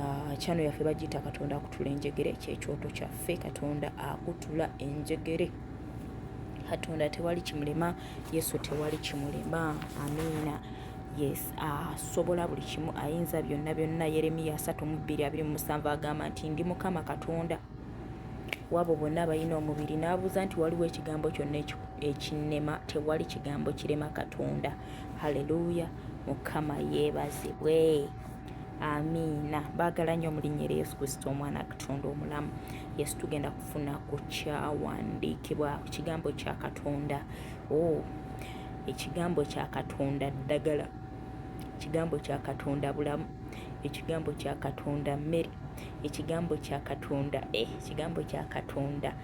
Ah, channel yaffe bagiyita katonda akutula enjegere kyekyoto kyaffe katonda akutula enjegere katonda tewali kimulema yesu tewali kimulema amiina yes asobola ah, buli kimu ayinza byonna byonna yeremiya 32 agamba nti ndi mukama katonda wabo bonna abalina omubiri n'abuuza nti waliwo ekigambo kyonna ekinema tewali kigambo kirema katonda haleluya mukama yeebazibwe amiina baagala nnyo mu linnya erya yesu kristo omwana katonda omulamu yesu tugenda kufuna ku kyawandiikibwa ku kigambo kya katonda o oh, ekigambo kya katonda ddagala ekigambo kya katonda bulamu ekigambo kya katonda mmere ekigambo kya katonda eh, ekigambo kya katonda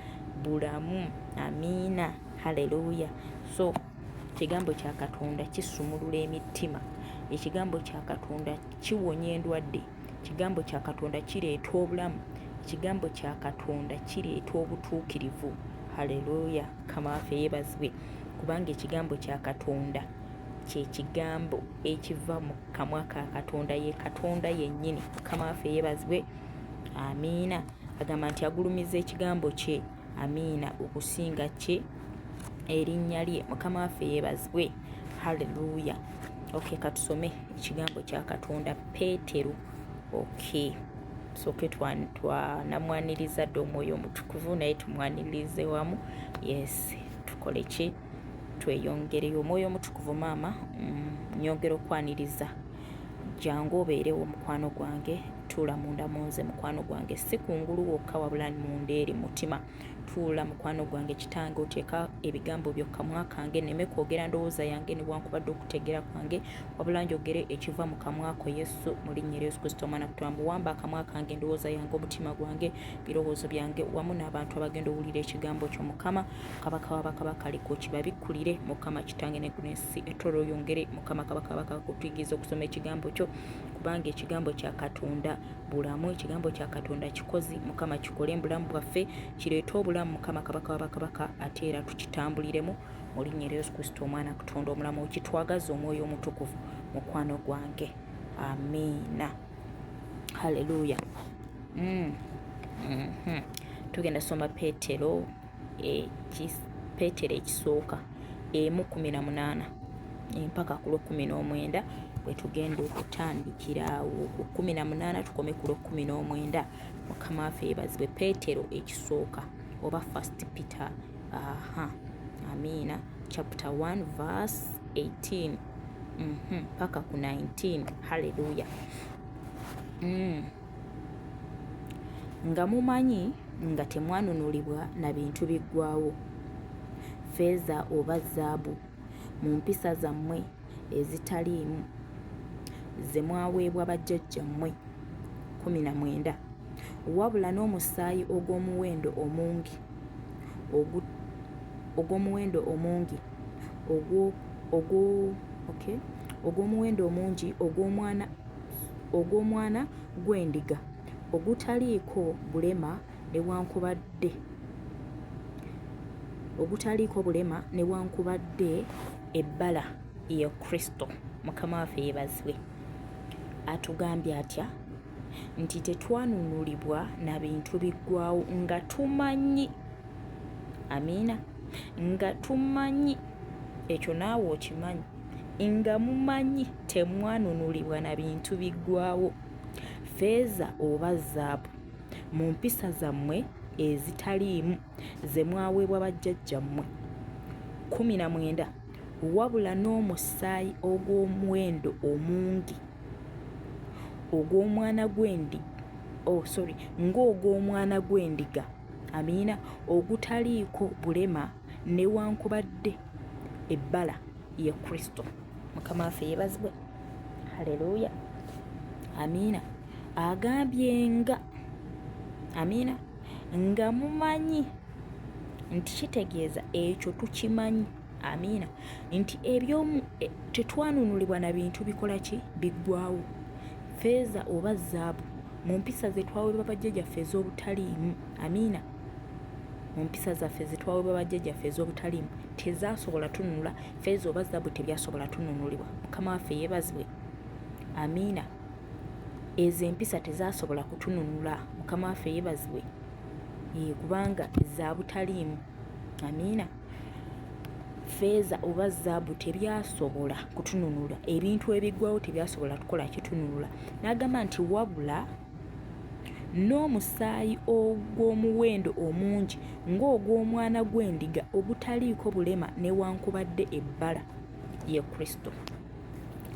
bulamu amiina haleluya so Ekigambo kya Katonda kisumulula emittima. Ekigambo kya Katonda kiwonya endwadde. Ekigambo kya Katonda kireeta obulamu. Ekigambo kya Katonda kireeta obutuukirivu. Haleluya! Mukama waffe yeebazibwe kubanga ekigambo kya Katonda kye kigambo ekiva mu kamwa ka Katonda. Ye Katonda yennyini. Mukama waffe yeebazibwe. Amiina. Agamba nti agulumiza ekigambo kye amiina okusinga kye erinnya lye mukama waffe yeebazibwe halleluya ok katusome ekigambo kya katonda peetero ok soke twanamwaniriza dde omwoyo omutukuvu naye tumwanirize wamu yes tukole ki tweyongereyo omwoyo omutukuvu maama mm, nyongera okwaniriza jangu obeerewo mukwano gwange tuula munda munze mukwano gwange si kungulu wokka wabula munda eri mutima tuula mukwano gwange kitange oteeka ebigambo byokkamwa kange neme kwogera ndowooza yange newankubadde okutegera kwange wabula njogere ekiva mu kamwako yesu mu linnya lya yesu kristo omwana kutulamu wamba akamwa kange endowooza yange omutima gwange birowoozo byange wamu n'abantu abagenda owulira ekigambo kyo mukama kabaka wa bakabaka leka okibabikkulire mukama kitange ne guno ensi etoro oyongere mukama kabaka kabaka kutuyigiriza okusoma ekigambo kyo kubanga ekigambo kya katonda bulamu ekigambo kya katonda kikozi mukama kikole mubulamu bwaffe kireete obulamu mukama kabaka wa bakabaka ate era tukitambuliremu mu linnya erya yesu kristo omwana katonda omulamu okitwagaza omwoyo omutukuvu mukwano gwange amiina halleluya mm. mm -hmm. tugenda soma petero petero ekisooka emu kumi na munaana empaka ku lwekumi n'omwenda bwetugenda okutandikira awo ku kumi na munaana tukome ku lwekumi n'omwenda mukama waffe yebazibwe petero ekisooka oba first peter aha amiina chapter 1 verse 18 mhm, mpaka ku 19 halleluya mm. nga mumanyi nga temwanunulibwa na bintu biggwaawo, ffeeza oba zaabu, mu mpisa zammwe ezitaliimu ze mwaweebwa bajjajjammwe, kkumi na mwenda, wabula n'omusaayi ogw'omuwendo omungi ogu, ogw'omuwendo omungi ogwo, ogwo, okay, ogw'omuwendo omungi ogw'omwana ogw'omwana gw'endiga ogutaliiko bulema newankubadde ogutaliiko bulema newankubadde ebbala ye kristo mukama waffe yebazibwe atugambye atya nti tetwanunulibwa na bintu biggwawo nga tumanyi amiina nga tumanyi ekyo naawe okimanyi nga mumanyi temwanunulibwa na bintu biggwawo feeza oba zaabu mu mpisa zammwe ezitaliimu ze mwaweebwa bajjajjammwe kumi na mwenda wabula n'omusaayi ogw'omuwendo omungi ogw'omwana gw'endi oh, sorry ng'ogw'omwana gw'endiga amiina ogutaliiko bulema newankubadde ebbala ye kristo mukama waffe yebazibwe haleluya amiina agambye nga amiina nga mumanyi nti kitegeeza ekyo tukimanyi amiina nti ebyomu e, tetwanunulibwa na bintu bikola ki biggwawo feeza oba zaabu mu mpisa ze twawebwa bajjajaffe ez'obutaliimu amiina mu mpisa zaffe zetwawebwa bajjajjaffe ez'obutaliimu tezasobola tununula feeza oba zabu tebyasobola tununulibwa mukama waffe yeebazibwe amiina ezo empisa tezasobola kutununula mukama waffe yeebazibwe kubanga za butaliimu amiina feeza oba zaabu tebyasobola kutununula ebintu ebigwawo tebyasobola kukola kitununula n'agamba nti wabula n'omusaayi ogw'omuwendo omungi ng'ogw'omwana gw'endiga ogutaliiko bulema newankubadde ebbala, ye Kristo.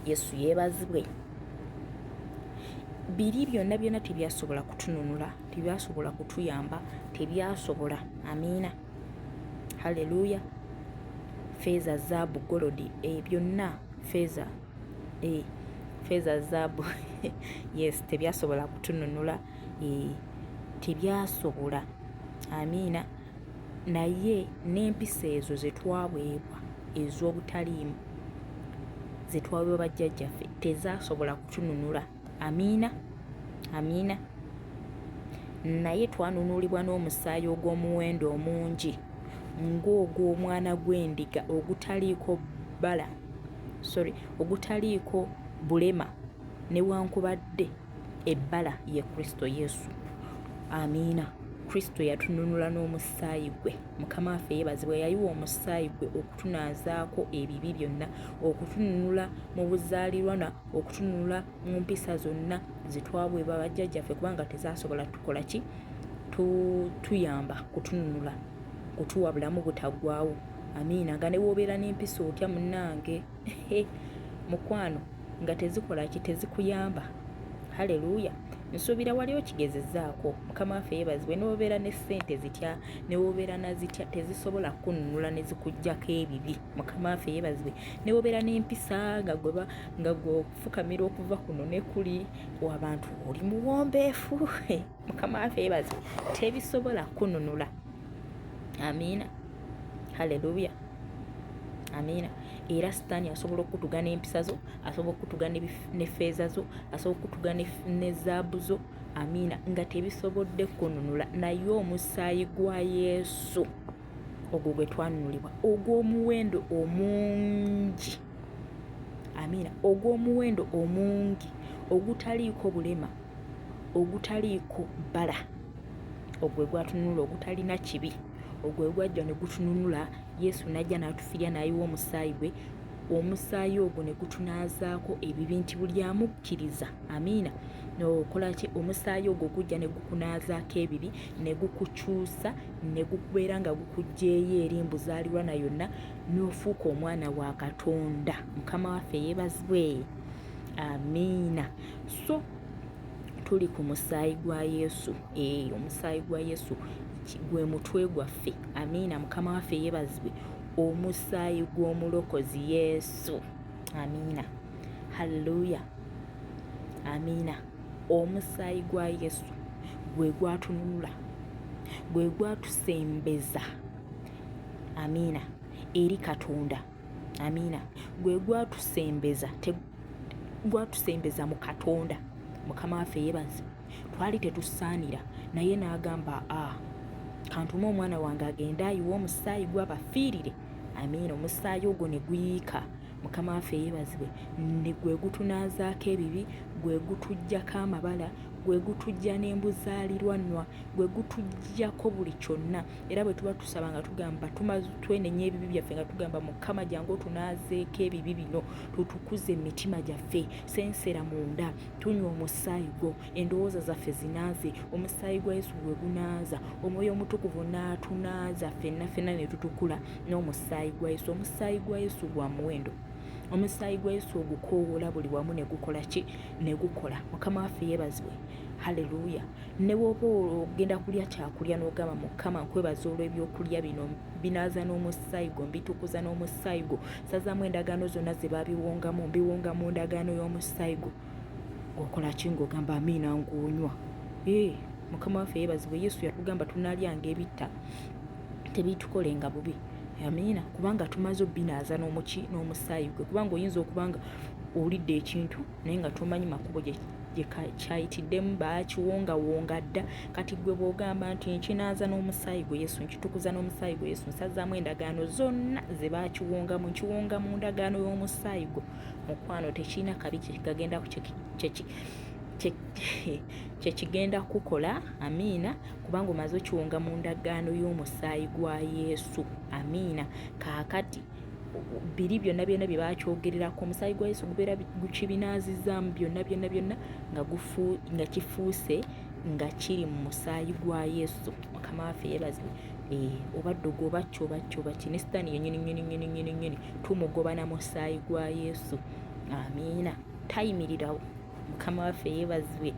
Yesu yeebazibwe. Biri byonna byonna tebyasobola kutununula, tebyasobola kutuyamba, tebyasobola. Amiina. Haleluya. Feeza, zaabu, golodi, ebyo eh, byonna feeza. eh, feeza zaabu yes tebyasobola kutununula eh, tebyasobola amiina naye n'empisa ezo zetwaweebwa ez'obutaliimu zetwaweebwa bajjajjaffe tezasobola kutununula amiina amiina naye twanunulibwa n'omusaayi ogw'omuwendo omungi ng'ogw'omwana gw'endiga ogutaliiko bbala sorry ogutaliiko bulema newankubadde ebbala ye kristo yesu amiina kristo yatununula n'omusaayi gwe mukama waffe yeebazibwe yayiwa omusaayi gwe okutunaazaako ebibi byonna okutununula mu buzaalirwa okutunula mu mpisa zonna zitwabwebwa bajjajjaffe kubanga tezasobola tukola ki tuyamba kutununula kutuwa bulamu butaggwawo amiina nga ne woobeera n'empisa otya munnange mukwano nga tezikola ki tezikuyamba haleluya nsuubira wali okigezezaako mukama waffe yeebazibwe newobeera ne ssente zitya newobeera nazitya tezisobola kukununula nezikugjako ebibi mukama waffe yeebazibwe newobera n'empisa nga gweba nga gwokufukamira okuva kuno nekuli wabantu oli muwombeefu mukama afe ebaze tebisobola kununula amiina haleluya amiina era sitaani asobola okutuga n'empisa zo asobola okutuga ne feeza zo asobola okutuga ne zaabu zo amiina nga tebisobodde kununula naye omusaayi gwa yesu ogwo gwe twanunulibwa ogw'omuwendo omungi amiina ogw'omuwendo omungi ogutaliiko bulema ogutaliiko bbala ogwe gwatununula ogutalina kibi ogwe gwajja ne gutununula yesu n'ajja n'atufirya n'ayiwa omusaayi gwe omusaayi ogwo ne gutunaazaako ebibi nti buli amukkiriza amiina nokolaki omusaayi ogwo gujja ne gukunaazaako ebibi ne gukukyusa ne gukubeera nga gukugyeyo eri mbuzaalirwa na yonna n'ofuuka omwana wa katonda mukama waffe yeebazibwe amiina so tuli ku musaayi gwa yesu ee eh, omusaayi gwa yesu gwe mutwe gwaffe amiina mukama waffe yeebazibwe omusaayi gw'omulokozi yesu amiina halleluya amiina Omusaayi gwa Yesu gwe gwatununula, gwe gwatusembeza. Amiina. Eri Katonda. Amiina. Gwe gwatusembeza, gwatusembeza mu Katonda. Mukama waffe yebazi. Twali tetusaanira naye n'agamba a ah, kantume omwana wange agende ayiwe omusaayi gwabafiirire. Amiina. Omusaayi ogwo ne guyiika. mukama waffe yeebazibwe ne gwe gutunaazaako ebibi gwe gutuggyako amabala gwe gutujja n'embuzaalirwannwa gwe gutujjako buli kyonna era bwe tuba tusaba nga tugamba twenenya ebibi byaffe nga tugamba mukama jangu otunaazeeko ebibi bino tutukuze emitima gyaffe sensera munda tunywa omusaayi gwo endowooza zaffe zinaaze omusaayi gwa yesu gwe gunaaza omwoyo omutukuvu n'atunaaza ffenna ffenna ne tutukula n'omusaayi gwa yesu omusaayi gwa yesu gwa muwendo omusaayi gwa yesu ogukoowoola buli wamu ne gukola ki ne gukola mukama waffe yeebazibwe haleluya ne bwoba ogenda kulya kyakulya n'ogamba mukama nkwebaza olw'ebyokulya bino binaaza n'omusaayi gwo mbitukuza n'omusaayi gwo sazamu endagaano zonna ze babiwongamu mbiwonga mu ndagaano y'omusaayi gwo ng'okola ki ng'ogamba amiina ng'onywa ee mukama waffe yeebazibwe yesu yatugamba tunaalyanga ebitta tebitukolenga bubi amiina kubanga tumaze obbinaaza n'omuki n'omusaayi gwe kubanga oyinza okubanga owulidde ekintu naye nga tomanyi makubo kyayitiddemu baakiwongawonga dda kati gwe bwogamba nti nkinaaza n'omusaayi gwe yesu nkitukuza n'omusaayi gwe yesu nsazaamu endagaano zonna ze baakiwongamu nkiwonga mu ndagaano y'omusaayi gwe mukwano tekirina kabi kyekigagenda kyekigenda kukola amiina kubanga omaze okiwonga mu ndagaano y'omusaayi gwa yesu amiina kaakati biri byonna byonna bye bakyogererako omusaayi gwa yesu gubeera gukibinaazizaamu byonna byonna byonna nga gufu nga kifuuse nga kiri mu musaayi gwa yesu mukama waffe yebazibwe eh, obadde ogwobakki obakki obakki ne sitaani yenyini nyini nyini nyini nyini tumugoba na musaayi gwa yesu amiina tayimirirawo mukama waffe yeebazibwe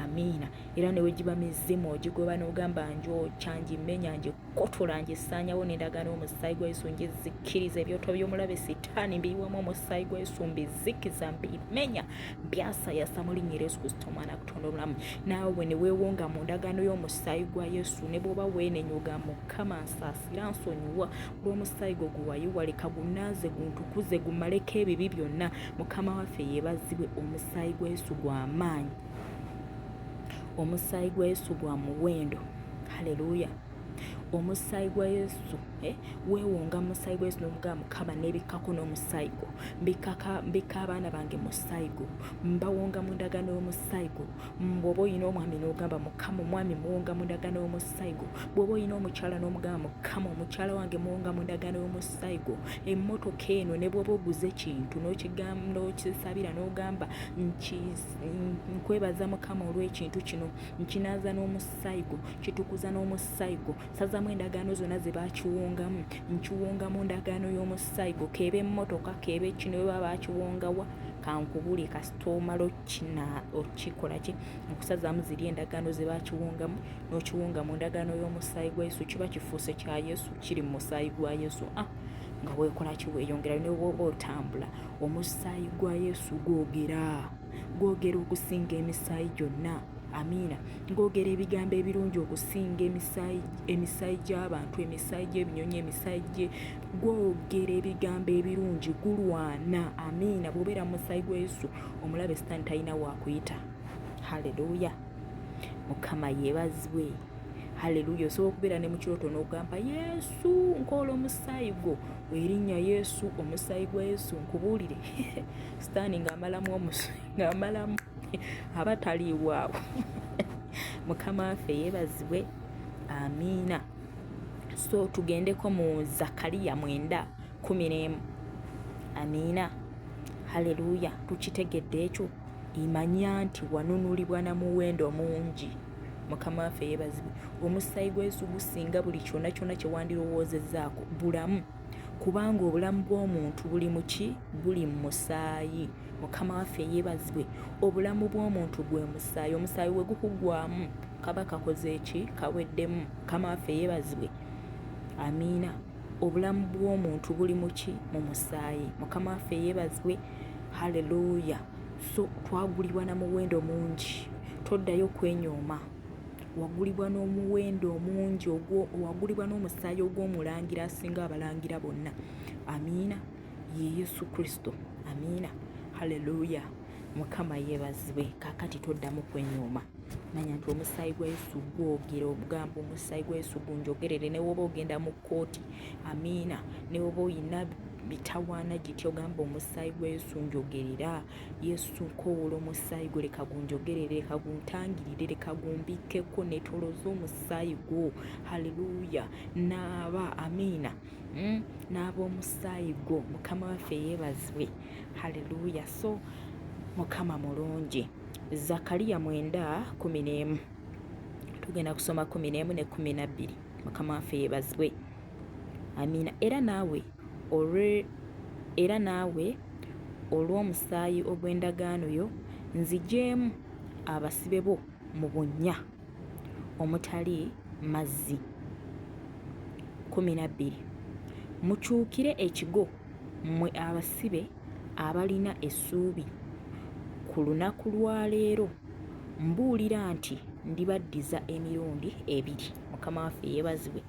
amiina era newegiba mizimu ogigoba n'ogamba njokya ngimenya ngikotola ngisaanyawo nendagana omusaayi gwa yesu ngizikkiriza ebyoto by'omulabe sitaani mbiyiwamu omusaayi gwa yesu mbizikiza mbimenya byasayasa mu linnya yesu kristo omwana kutonda obulamu naawe neweewonga mu ndagaano y'omusaayi gwa yesu ne bwoba weenenyuga mukama nsaasira nsonyiwa bw'omusaayi gwo guwayo waleka gunaaze guntukuze gumaleko ebibi byonna mukama waffe yeebazibwe omusaayi gwa yesu gwa maanyi omusaayi gwa yesu gwa muwendo haleluya omusaayi gwa yesu eh, weewonga musaayi gwa yesu novuga mukama nebikkako n'omusaayi gwo mbikka abaana bange musaayi gwo mbawonga mu ndagaano y'omusaayi gwo bwoba olina omwami n'ogamba mukama omwami muwonga mundagano y'omusaayi gwo bwoba olina omukyala n'omugamba mukama omukyala wange muwonga mundagano y'omusaayi gwo emmotoka eno ne bwoba oguze ekintu n'okisabira n'ogamba nkwebaza mukama olw'ekintu kino nkinaaza n'omusaayi gwo kitukuza n'omusaayi gwo sazamu endagaano zonna ze bakiwongamu nkiwongamu ndagaano y'omusaayi gwo keeba emmotoka keeba ekino bwe baba bakiwongawa kankubule kasitoomalo kina okikola ki okusazaamu ziri endagaano ze bakiwungamu n'okiwunga mu ndagaano y'omusaayi gwa yesu kiba kifuuse kya yesu kiri mu musaayi gwa yesu ah nga weekola ki weeyongera ne bwoba otambula omusaayi gwa yesu gwogera gwogera okusinga emisaayi gyonna amiina ng'ogera ebigambo ebirungi okusinga emisaayi gy'abantu emisaayi gy'ebinyonyi emisaayi gye gwogera ebigambo ebirungi gulwana amiina bwobeera musaayi gwa yesu omulabe sitaani talina waakuyita haleluya mukama yeebazibwe haleluya osobola okubeera ne mukirooto n'ogamba yesu nkoola omusaayi gwo erinnya yesu omusaayi gwa yesu nkubuulire sitaani ng'amalamu omusu ng'amalamu aba taliiwaawo mukama waffe yeebazibwe amiina so tugendeko mu zakariya mwenda kumi n'emu amiina haleluya tukitegedde ekyo imanya nti wanunulibwa na muwendo mungi mukama waffe yebazibwe omusaayi gwesu gusinga buli kyona kyona kyewandirowoozezaako bulamu kubanga obulamu bw'omuntu buli muki buli mu musaayi mukama waffe yebazibwe obulamu bw'omuntu gwe musaayi omusaayi we gukugwamu kaba kakoze eki kaweddemu mukama waffe yebazibwe amiina Obulamu bw'omuntu buli mu ki? Mu musaayi. Mukama waffe yeebazibwe. Haleluuya! So twagulibwa na muwendo mungi, toddayo kwenyooma. Wagulibwa n'omuwendo omungi, wagulibwa n'omusaayi ogw'omulangira asinga abalangira bonna. Amiina. Ye Yesu Kristo. Amiina. Haleluuya! mukama yebazibwe kakati toddamu kwenyooma manya nti omusaayi gwa yesu gwogera ogamba omusaayi gwa yesu gunjogerere newoba ogenda mu kkooti amiina newoba oyina bitawaana gitya ogamba omusaayi gwa yesu njogerera yesu nkowoola omusaayi gwo leka gunjogerere leka guntangirire leka gumbikkeko netolooza omusaayi gwo halleluya naaba amiina hmm? naaba omusaayi gwo mukama waffe yeebazibwe haleluya so mukama mulungi zakariya mwenda kumi n'emu tugenda kusoma kumi n'emu ne kumi nabbiri mukama waffe yebazibwe amiina era naawe olwe era naawe olw'omusaayi ogw'endagaano yo nzigyemu abasibe bo mu bunnya omutali mazzi kumi nabbiri mukyukire ekigo Mmwe abasibe abalina essuubi, ku lunaku lwa leero mbuulira nti ndibaddiza emirundi ebiri. Mukama waffe yeebazibwe.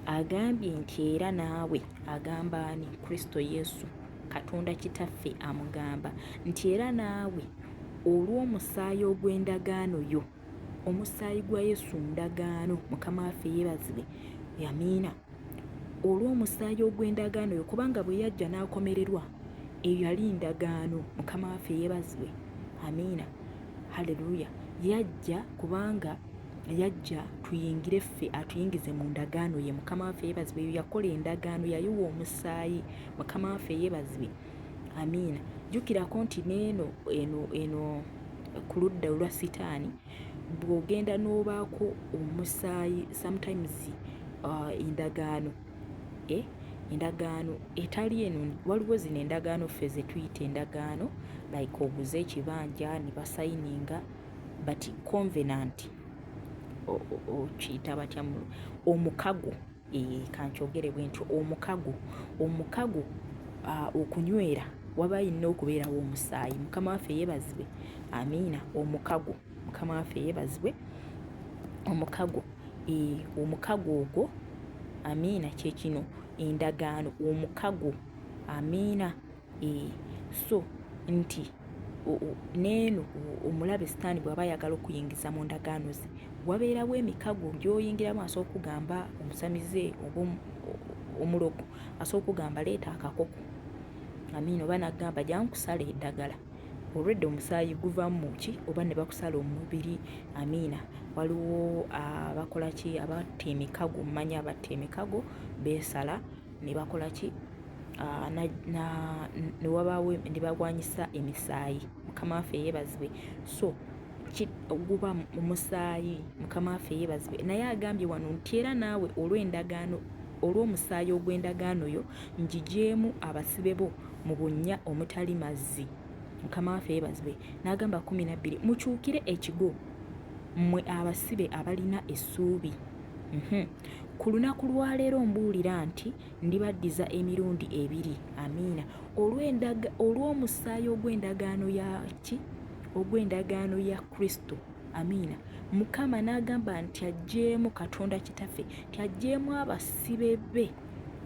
Agambye nti era naawe agamba ani? Kristo Yesu. Katonda Kitaffe amugamba nti era naawe olw'omusaayi ogw'endagaano yo, omusaayi gwa Yesu ndagaano. Mukama waffe yeebazibwe. Yamiina. olw'omusaayi ogw'endagaano yo kubanga bwe yajja n'akomererwa eyo yali ndagaano mukama waffe yebazibwe amiina halleluya yajja kubanga yajja tuyingire ffe atuyingize mu ndagaano ye mukama waffe yebazibwe eyo yakola endagaano yayiwa omusaayi mukama waffe yebazibwe amiina jjukirako nti neeno eno eno ku ludda olwa sitaani bwogenda n'obaako omusaayi sometimes uh, endagaano eh? endagaano etali eno waliwo zino endagaano ffe zetuyita endagaano like oguze ekibanja ne basayininga but convenant okiyita batya omukago Ee, kankyogere bwe ntyo omukago omukago okunywera waba yinna okubeerawo omusaayi mukama waffe yebazibwe amiina omukago mukama waffe yebazibwe omukago ee, omukago ogwo amiina kyekino endagaano omukago amiina eh, so nti neeno omulabe sitaani bw'aba ayagala okuyingiza mu ndagaano ze wabeerawo emikago gyoyingiramu asobola okugamba omusamize oba omulogo asobola okugamba leeta akakoko amiina oba nagamba jankusala eddagala olwedde omusaayi guvamu ki oba ne bakusala omubiri amiina waliwo abakola ki abatta emikago mumanya abatta emikago beesala ne bakola ki ah, ne wabaawo ne bagwanyisa emisaayi mukama waffe yeebazibwe so guba omusaayi mukama waffe yeebazibwe naye agambye wano nti era naawe olw'endagaano olw'omusaayi ogw'endagaano yo njigyemu abasibe bo mu bunnya omutali mazzi mukama waffe yeebazibwe n'agamba kumi nabbiri mukyukire ekigo mmwe abasibe abalina essuubi mhm. Ku lunaku lwa leero mbuulira nti ndibaddiza emirundi ebiri, amiina, olw'omusaayi ogw'endagaano ya ki? Ogw'endagaano ya Kristo. Amiina. Mukama n'agamba nti aggyeemu Katonda Kitaffe, nti aggyeemu abasibe be,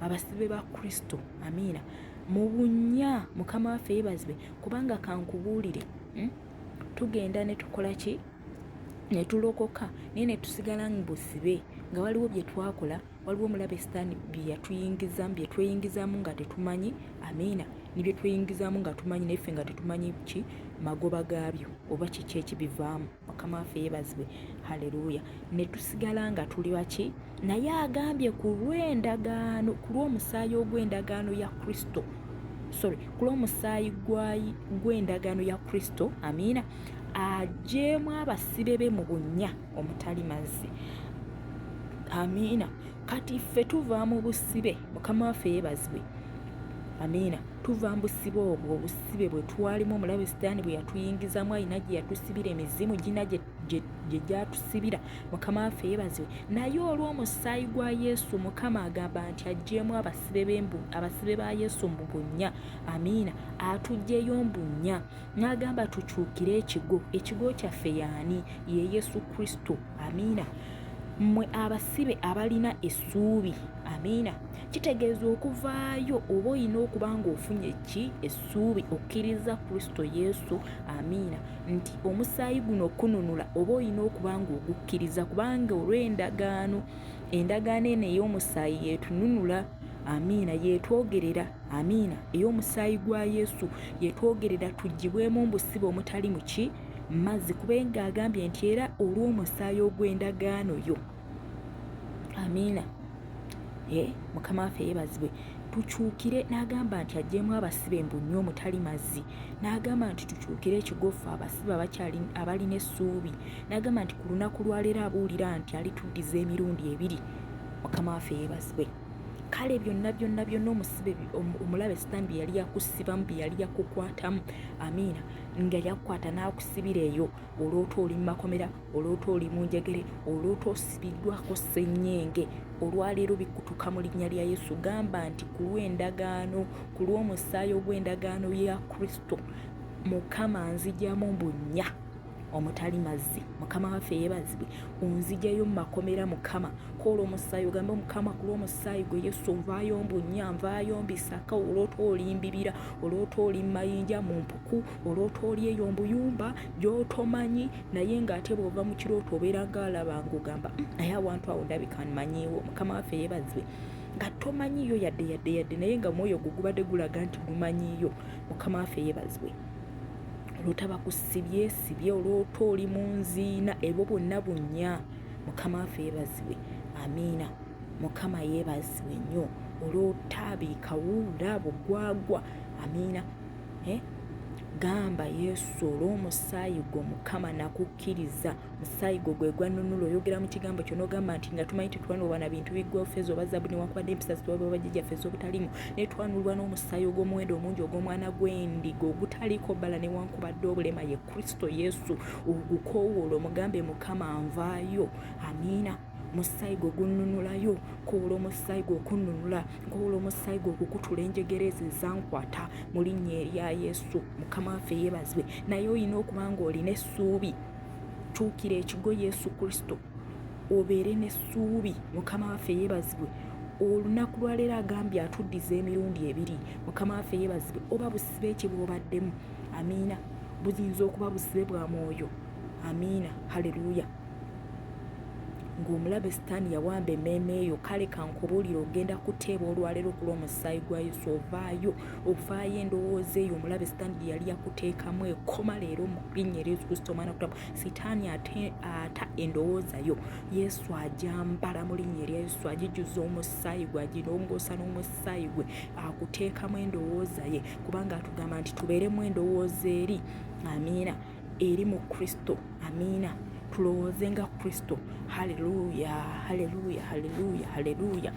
abasibe ba Kristo. Amiina. Mu bunnya, Mukama waffe yeebazibwe, kubanga kankubuulire, hmm? tugenda ne tukola ki? ne tulokoka naye ne tusigala mu busibe nga waliwo bye twakola waliwo omulabe sitaani bye yatuyingizamu bye tweyingizamu nga tetumanyi amiina ne bye tweyingizamu nga tumanyi naye ffe nga tetumanyi ki magoba gaabyo oba kiki ekibivaamu mukama waffe yeebazibwe haleluya ne tusigala nga tuli baki naye agambye ku lw'endagaano ku lw'omusaayi ogw'endagaano ya kristo sorry ku lw'omusaayi gw'endagaano ya kristo amiina ajeemu abasibe be mu bunnya omutali mazzi amiina kati ffe tuva mu busibe mukama waffe yebazibwe amiina tuva mu busibe obwo obusibe bwe twalimu omulabe sitaani bwe yatuyingizamu alina gye yatusibira emizimu gina gye gye gyatusibira mukama waffe yeebazibwe naye olw'omusaayi gwa yesu mukama agamba nti ajjeemu abasibe ba yesu mbu bunnya amiina atugyeyo mbunnya n'agamba tukyukire ekigo ekigo kyaffe yaani ye yesu kristo amiina mmwe abasibe abalina essuubi amiina kitegeeza okuvaayo oba olina okuba ng'ofunye ki essuubi okkiriza kristo yesu amiina nti omusaayi guno okukununula oba olina okuba ng'ogukkiriza kubanga olw'endagaano endagaano eno ey'omusaayi yeetununula amiina yeetwogerera amiina ey'omusaayi gwa yesu yeetwogerera tugibwemu mbusibe omutali muki mazzi kubenga agambye nti era olw'omusaayi ogw'endagaano yo amiina eh, mukama waffe yebazibwe tukyukire n'agamba nti ajjemu abasibe mbu nnyo omutali mazzi n'agamba nti tukyukire ekigofu abasibe abalina essuubi n'agamba nti ku lunaku lwaleero abuulira nti alituddiza emirundi ebiri mukama waffe yebazibwe kale byonna byonna byonna omusibe omulabe sitaani bye yali yakusibamu bye yali yakukwatamu amiina nga yakukwata n'akusibira eyo olwota oli mu makomera oloota oli mu njegere oloota osibiddwako ssennyenge olwaleero bikutuka mu linnya lya yesu gamba nti ku lw'endagaano ku lw'omusaayi ogw'endagaano ya kristo mukama nzijamu mbunnya omutali mazzi mukama waffe yebazibwe onzijayo mumakomera mukama koola omusaayi ogambe omukama ku lwomusaayi gwe yesu nvaayo mbunya nvaayo mbisaka olwoota olimbibira olwoota oli mumayinja mu mpuku oloota oli eyo mbuyumba gyotomanyi naye ngaate bwova mu kirooto obeera ngaalaba ngaogamba mm, naye awantu awo ndabika manyiiwo mukama waffe yebazibwe nga tomanyiiyo yadde yadde yadde naye nga mwoyo gwo gubadde gulaga nti gumanyiiyo mukama waffe yebazibwe oloota bakusibye sibye oloota oli mu nziina ebwo bwonna bunnya mukama waffe yebazibwe amiina mukama yebazibwe nnyo olwotabiikawuula bugwagwa amiina eh? gamba yesu olwomusaayi gwo mukama nakukkiriza musaayi gwo gwegwanunula oyogera mu kigambo kyo nogamba nti nga tumanyi tetwanulwa na bintu bigwofeeza oba zabu newankubadde empisa zitwaba bajijaffe ezobutalimu naye twanulwa n'omusaayi ogw'omuwendo omungi ogw'omwana gw'endiga ogutaliko bala newankubadde obulema ye kristo yesu ogukowoola omugambe mukama nvaayo amiina musaayi gwe gunnunulayo nkoola omusaayi gwe okunnunula nkoola omusaayi gwe okukutula enjegera ezo ezankwata mu linnya erya yesu mukama waffe yeebazibwe naye olina okuba nga olina essuubi tuukira ekigo yesu kristo obeere n'essuubi mukama waffe yeebazibwe olunaku lwaleero agambye atuddiza emirundi ebiri mukama waffe yeebazibwe oba busibe ekye bwobaddemu amiina buyinza okuba busibe bwa mwoyo amiina haleluya ng'omulabe sitaani yawamba emmeeme yo kale kankubuulire ogenda kuteeba olwaleero ku lw'omusaayi gwa yesu ovaayo ovaayo endowooza eyo omulabe sitaani gye yali yakuteekamu ekoma leero mu linnya eryo yesu kristo omwana kutamu sitaani ata endowooza yo yesu ajambala mu linnya erya yesu agijuza omusaayi gwe agirongoosa n'omusaayi gwe akuteekamu endowooza ye kubanga atugamba nti tubeeremu endowooza eri amiina eri mu kristo amiina tulowooze nga kristo haleluya haleluya haleluya haleluya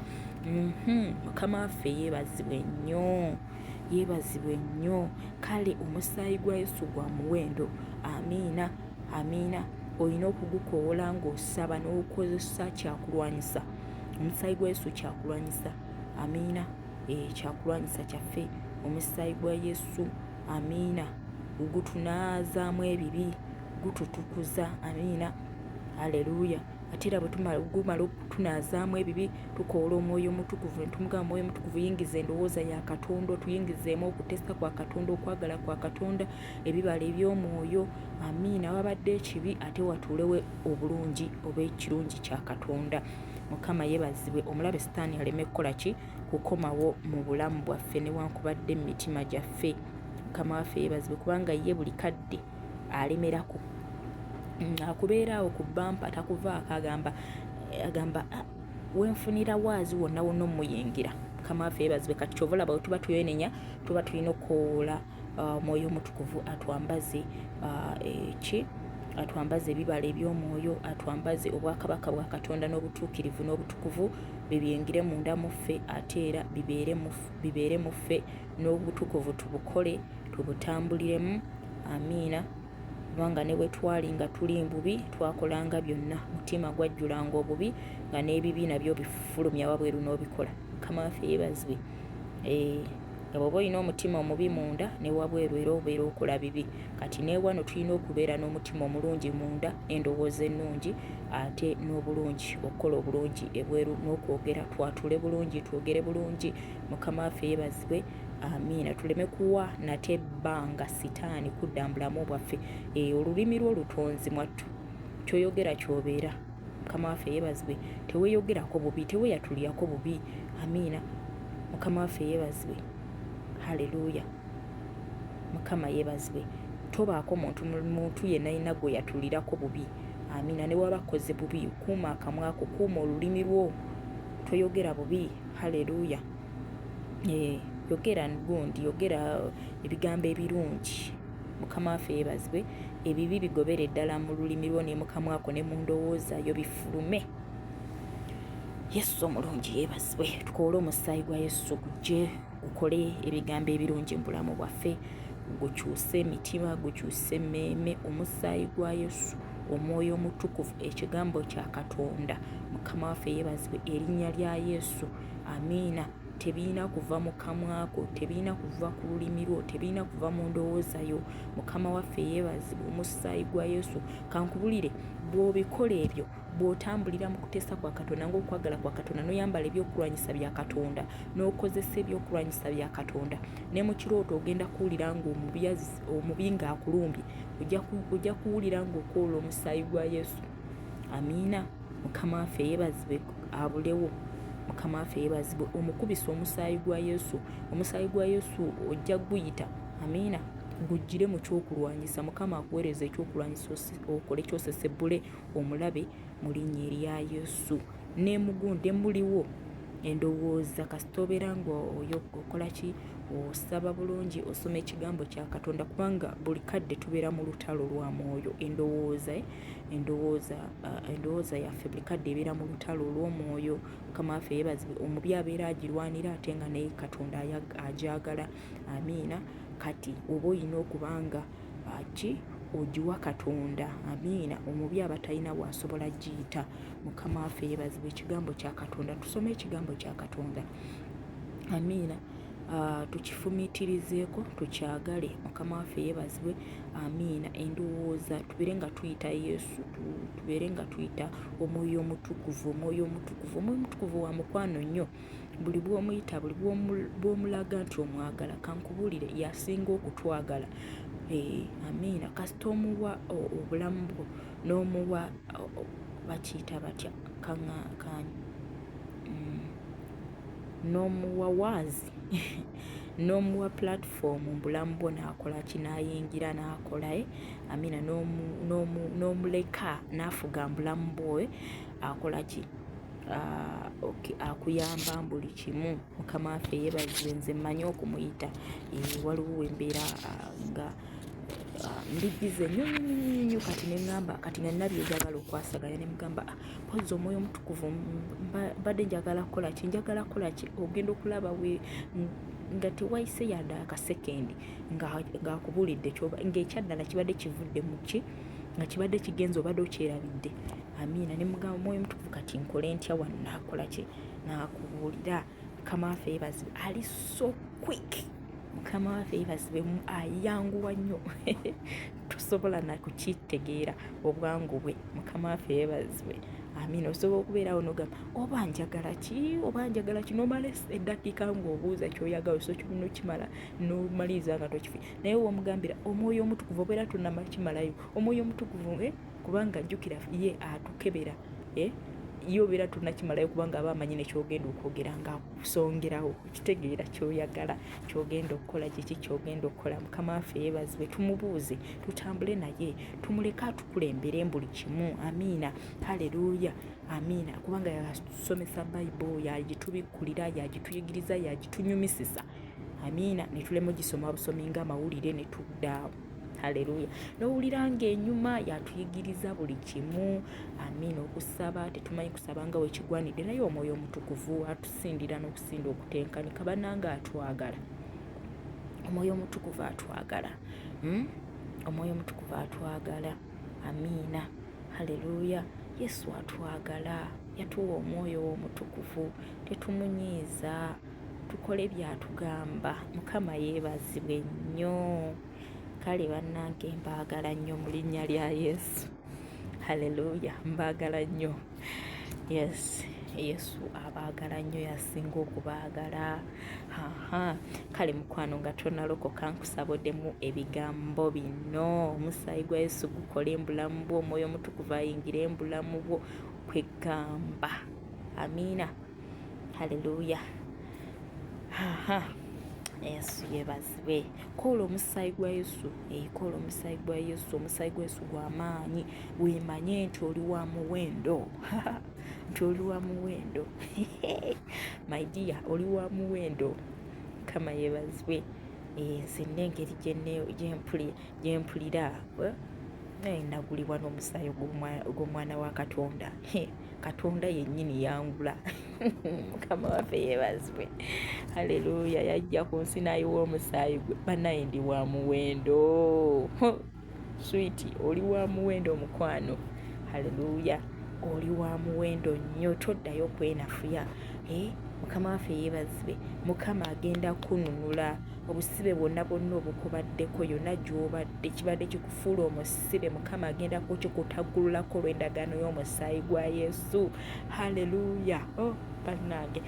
mhm. mukama waffe yeebazibwe nnyo yeebazibwe nnyo kale omusaayi gwa yesu gwa muwendo amiina amiina olina okugukoowola ng'osaba n'okozesa kyakulwanyisa omusaayi gwa yesu kyakulwanyisa amiina eh, kyakulwanyisa kyaffe omusaayi gwa yesu amiina gutunaazaamu ebibi gututukuza amiina aleluya ate era bwegumala okutunaazaamu ebibi tukoola omwoyo omutukuvu netumugamba omwoyo omutukuvu yingiza endowooza ya katonda otuyingizeemu okutesa kwa katonda okwagala kwa katonda ebibala eby'omwoyo amiina wabadde ekibi ate watuulewo obulungi oba ekirungi kya katonda mukama yebazibwe omulabe sitaani aleme kukola ki kukomawo mu bulamu bwaffe newankubadde mu mitima gyaffe mukama waffe yebazibwe kubanga ye buli kadde alemerako mm, akubeeraawo ku bampa takuvaako agamba agamba ah, wenfunira waazi wonna wonna omuyingira mukama waffe yebazibwe kati kyova olaba wetuba tuyenenya tuba tulina okukowoola ah, omwoyo omutukuvu atwambaze ah, eki atwambaze ebibala eby'omwoyo atwambaze obwakabaka bwa katonda n'obutuukirivu n'obutukuvu bye byengire munda mu ffe ate era bibeere mu ffe n'obutukuvu tubukole tubutambuliremu amiina kubanga ne bwe twali nga tuli mbubi twakolanga byonna mutima gwajjulanga obubi nga n'ebibi nabyo bifulumya wabweru n'obikola mukama waffe yeebazibwe eh. nga bwoba olina omutima omubi munda ne wabweru era obeera okola bibi kati newano tulina okubeera n'omutima omulungi munda n'endowooza ennungi ate n'obulungi okukola obulungi ebweru n'okwogera twatule bulungi twogere bulungi mukama waffe yebazibwe amiina tuleme kuwa nate ebbanga sitaani kudda mbulamu bwaffe eyo olulimi lwo lutonzi mwattu kyoyogera kyobeera mukama waffe yebazibwe teweyogerako bubi teweyatulirako bubi amiina mukama waffe yebazibwe haleluya mukama yebazibwe tobaako muntu muntu yenayina gwe yatulirako bubi amiina newaba koze bubi kuuma akamwa ko kuuma olulimi lwo toyogera bubi haleluya eh, yogera gundi yogera ebigambo ebirungi Mukama waffe yebazibwe ebibi bigobere ddala mu lulimi lwo ne mukamwako ne mu ndowooza yo bifulume yesu omulungi yebazibwe tukoole omusaayi gwa yesu gujje gukole ebigambo ebirungi mu bulamu bwaffe gukyuse emitima gukyuse emmeeme omusaayi gwa yesu omwoyo omutukuvu ekigambo kya katonda mukama waffe yebazibwe erinnya lya yesu amiina tebirina kuva mu kamwako tebirina kuva ku lulimi lwo tebirina kuva mu ndowooza yo mukama waffe yeebazibwa omusaayi gwa yesu kankubulire bw'obikola ebyo bw'otambulira mu kuteesa kwa katonda ng'okwagala kwa katonda n'oyambala ebyokulwanyisa bya katonda n'okozesa ebyokulwanyisa bya katonda ne mu kirooto ogenda kuwulira ng'omubi ng'akulumbye ojja kuwulira ng'okoola omusaayi gwa yesu amiina mukama waffe yebazibwe abulewo mukama waffe yebazibwe omukubisa omusaayi gwa yesu omusaayi gwa yesu ojja guyita amiina gujjire mu kyokulwanyisa mukama akuweereza ekyokulwanyisa okole kyosesebbule omulabe mu linnya erya yesu nemugunde muliwo endowooza kasita obeera nga oyo okola ki osaba bulungi osoma ekigambo kya katonda kubanga buli kadde tubeera mu lutalo lwa mwoyo endowooza eh? endowooza uh, endowooza yaffe buli kadde ebeera mu lutalo olw'omwoyo mukama waffe yeebazibwe omubi abeera agirwanira ate nga naye katonda agyagala amiina kati oba olina okuba nga uh, ki ogiwa katonda amiina omubi aba talina bwasobola giyita mukama waffe yeebazibwe ekigambo kya katonda tusome ekigambo kya katonda amiina uh, tukifumiitirizeeko tukyagale mukama waffe yeebazibwe amiina endowooza tubeere nga tuyita yesu tubeere nga tuyita omwoyo omutukuvu omwoyo omutukuvu omwoyo omutukuvu wa mukwano nnyo buli bwomuyita buli bwomulaga nti omwagala kankubuulire yasinga okutwagala eh, amiina kasita omuwa obulamu bwo n'omuwa bakiyita batya kaŋaakaanyi mm. n'omuwa waazi n'omuwa platform mu bulamu bwo n'akola ki n'ayingira n'akola eh amina n'omu n'omu n'omuleka n'afuga mu bulamu bwo eh akola ki ah, okay, akuyamba mu buli kimu mukama waffe yeebazibwe nze mmanyi okumuyita eh, waliwo wembeera ah, nga ah, mbijjize nnyo nnyo nnyo nnyo kati ne ŋŋamba kati nga nnabyegagala okwasaganya ne mugamba ah, mpozzi omwoyo omutukuvu mbadde njagala kukola ki njagala kukola ki ogenda okulaba we nga tewayise yadde akasekendi ng'akubuulidde kyoba ng'ekyaddala kibadde kivudde mu ki nga kibadde kigenza obadde okyerabidde amiina ne mugamba mwoyo mutukuvu kati nkole ntya wano naakola ki naakubuulira mukama waffe yebazibe ali so quick mukama waffe yebazibe ayanguwa nnyo tosobola nakukitegeera obwangu bwe mukama waffe yebazibwe amina osobola okubeerawo nogamba oba njagala ki oba njagala ki nomala eddakiika ngaobuuza kyoyagala osokyomuna okimala nomaliriza nga tokifi naye womugambira omwoyo omutukuvu obeera tonakimalayo omwoyo omutukuvu eh? kubanga jjukira ye atukebera eh? ye obeera tonakimalayo kubanga aba amanyi nekyogenda okwogera nga akusongerawo kitegeera kyoyagala kyogenda okukola kiki kyogenda okukola mukama waffe yebazibwe tumubuuze tutambule naye tumuleke atukulembere mbuli kimu amiina haleluya amiina kubanga yatusomesa bayibo yagitubikkulira yagituyigiriza yagitunyumisisa amiina netulema ogisoma busomi nga amawulire netudaawo haleluya nowulira nga enyuma yatuyigiriza buli kimu amiina okusaba tetumanyi kusaba nga wekigwanidde naye omwoyo omutukuvu atusindira n'okusinda okutenkanika bananga atwagala omwoyo omutukuvu atwagala hmm? omwoyo omutukuvu atwagala amiina haleluya yesu atwagala yatuwa omwoyo w'omutukuvu tetumunyiiza tukole byatugamba mukama yeebazibwe nnyo kale bannange mbaagala nnyo mu linnya lya yesu halleluya mbaagala nnyo yes yesu abaagala nnyo yasinga okubaagala aha kale mukwano nga tonalokoka nkusabodemu ebigambo bino omusaayi gwa yesu gukola embulamu bwo omwoyo omutukuvu ayingira embulamu bwo kwegamba amiina haleluya yesu yebazibwe kola omusaayi gwa yesu ekola eh, omusaayi gwa yesu omusaayi gwa yesu gwamaanyi wemanye nti oli wa muwendo nti oli wa muwendo my dia oli wa muwendo kama yebazibwe eh, nze nengeri gyempulira eh, nagulibwa n'omusaayi gw'omwana wa katonda katonda yennyini yangula mukama waffe yebazibwe haleluya yajja ku nsi nayiwa omusaayi gwe banaye ndi wa muwendo switi oli wa muwendo omukwano haleluya oli wa muwendo nnyo toddayo kwenafuya eh, mukama waffe yebazibe mukama agenda kununula obusibe bwonna bwonna obukubaddeko yonna gyobadde kibadde kikufuula omusi musibe mukama agenda kukikutaggululako olw'endagaano y'omusaayi gwa yesu halleluya oh. bannange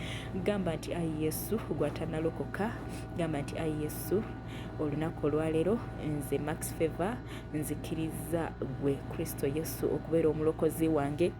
gamba nti ayi yesu gwatanalokoka gamba nti ayi yesu olunaku olwaleero nze max favor nzikiriza gwe kristo yesu okubeera omulokozi wange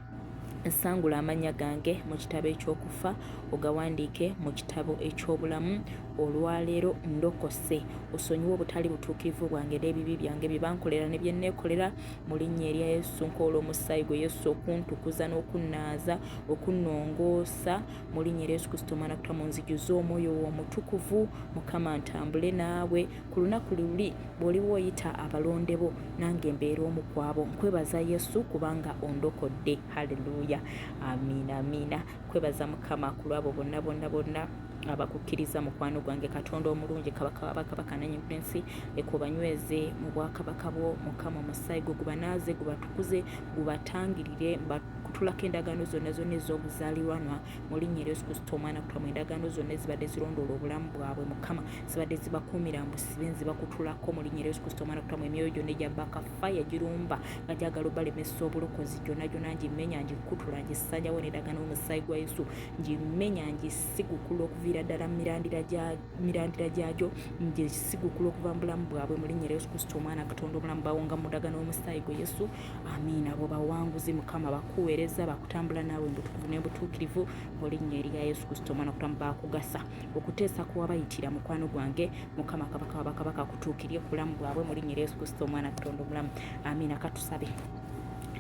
Nsangula amannya gange mu kitabo eky'okufa ogawandiike mu kitabo eky'obulamu olwaleero ndokose osonyiwe obutali butuukirivu bwange n'ebibi byange bye bankolera ne bye neekolera mu linnya erya yesu nkoola omusaayi gwe yesu okuntukuza n'okunnaaza okunnongoosa mu linnya erya yesu kristo omwana kutwa mu nzijuza omwoyo w'omutukuvu mukama ntambule naawe ku lunaku luli bw'oliba oyita abalonde bo nange mbeera omu ku abo nkwebaza yesu kubanga ondokodde halleluya amiina amiina kwebaza mukama ku lwabo bonna bonna bonna abakukkiriza mukwano gwange katonda omulungi kabaka wabakabaka nanyinprinsi ekubanyweze mu bwakabaka bwo mukama omusaayi gwe gubanaaze gubatukuze gubatangirire kutulako endagaano zonna zonna ez'obuzaalirwanwa mu linnya eryo zikusta omwana kutwa mu endagaano zonna ezibadde zirondoola obulamu bwabwe mukama zibadde zibakuumira mbusibe nzibakutulako mu linnya eryo zikusta omwana kutwa mu emyoyo gyonna egya baka faya girumba nga gyagala obalemesa obulokozi gyonna gyonna ngimenya ngikutula ngisanyawo nendagaano omusaayi gwa yesu ngimenya ngisigukula okuviira ddala mirandira gyagyo ngisigukula okuva mu bulamu bwabwe mu linnya eryo zikusta omwana katonda obulamu bawonga mu ndagaano omusaayi gwe yesu amiina abo bawanguzi mukama bakuweereza bakutambula naawe mubutukuvu nebutuukirivu mu linnya erya yesu kristo omwana kutamu bakugasa okuteesa kuwabayitira mukwano gwange mukama kabaka wabakabaka kutuukirie kulamu bwabwe mu linnya erya yesu kristo omwana katonda omulamu amiina katusabe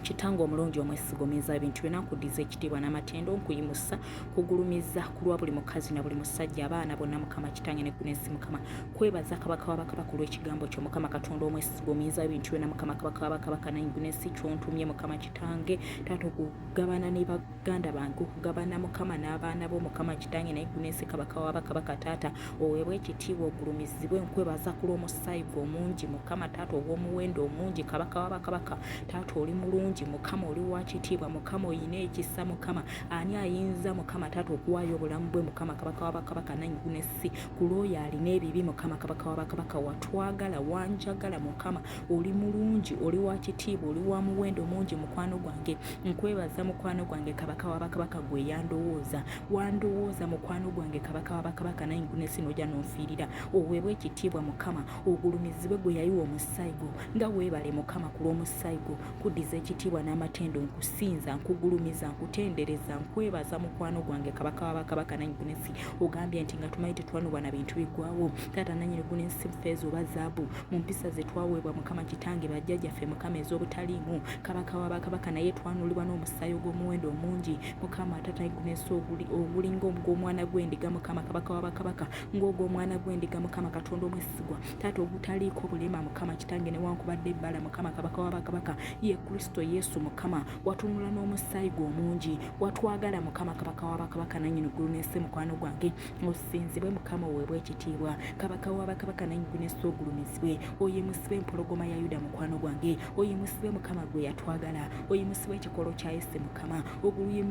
kitange omulungi omwesigomeza ebintu byona nkuddiza ekitiibwa n'amatendo nkuyimusa kugulumiza kulwa buli mukazi na buli musajja abaana bonna mukama kitange nekunensi mukama kwebaza kabaka wabakabaka olw'ekigambo kyo mukama katonda omwesi gwomuyiza bintu byona mukama kabaka wabakabaka nayingune si kyontumye mukama kitange taata okugabana ne baganda bange okugabana mukama n'abaana bo mukama kitange nayingune si kabaka wabakabaka taata oweebwa ekitiibwa ogulumizibwe nkwebaza ku lw'omusaayi gwe omungi mukama taata ogw'omuwendo omungi kabaka wabakabaka taata oli mulungi mukama oli wa kitiibwa mukama oyina ekisa mukama ani ayinza mukama taata okuwaayo obulamu bwe mukama kabaka wabakabaka nayingune si kulwoyo alina ebibi mukama kabaka wa bakabaka watwagala wanjagala mukama oli mulungi oli wa kitiibwa oli wa muwendo mungi mukwano gwange nkwebaza mukwano gwange kabaka wa bakabaka gwe yandowooza wandowooza mukwano gwange kabaka wa bakabaka naye ngunesi noja nonfiirira oweebwa ekitiibwa mukama ogulumizibwe gwe yayiwa omusaayi gwo nga weebale mukama ku lw'omusaayi gwo kuddiza ekitiibwa n'amatendo nkusinza nkugulumiza nkutendereza nkwebaza mukwano gwange kabaka wa bakabaka naye ngunesi ogambye nti nga tumanyi tetwanubwa na bintu biggwawo taata nanyini guni nsi feeza oba zaabu mu mpisa ze twaweebwa mukama kitange bajjajjaffe mukama ez'obutaliimu kabaka wa bakabaka naye twanulibwa n'omusaayi ogw'omuwendo omungi mukama taata gunensi ogulinga ogw'omwana gw'endiga mukama kabaka wa bakabaka ng'ogw'omwana gw'endiga mukama katonda omwesigwa taata ogutaliiko bulema mukama kitange newankubadde ebbala mukama kabaka wa bakabaka ye kristo yesu mukama watunula n'omusaayi gwe omungi watwagala mukama kabaka wabakabaka nanyini ggulu n'ensi mukwano gwange osinzibwe mukama oweebwa ekitiibwa kabaka wabakabaka nanyini n'ensi ogulumizibwe oyimusibwe empologoma ya yuda mukwano gwange oyimusibwe mukama gwe yatwagala oyimusibwe ekikolo kya yesu mukama oguluyi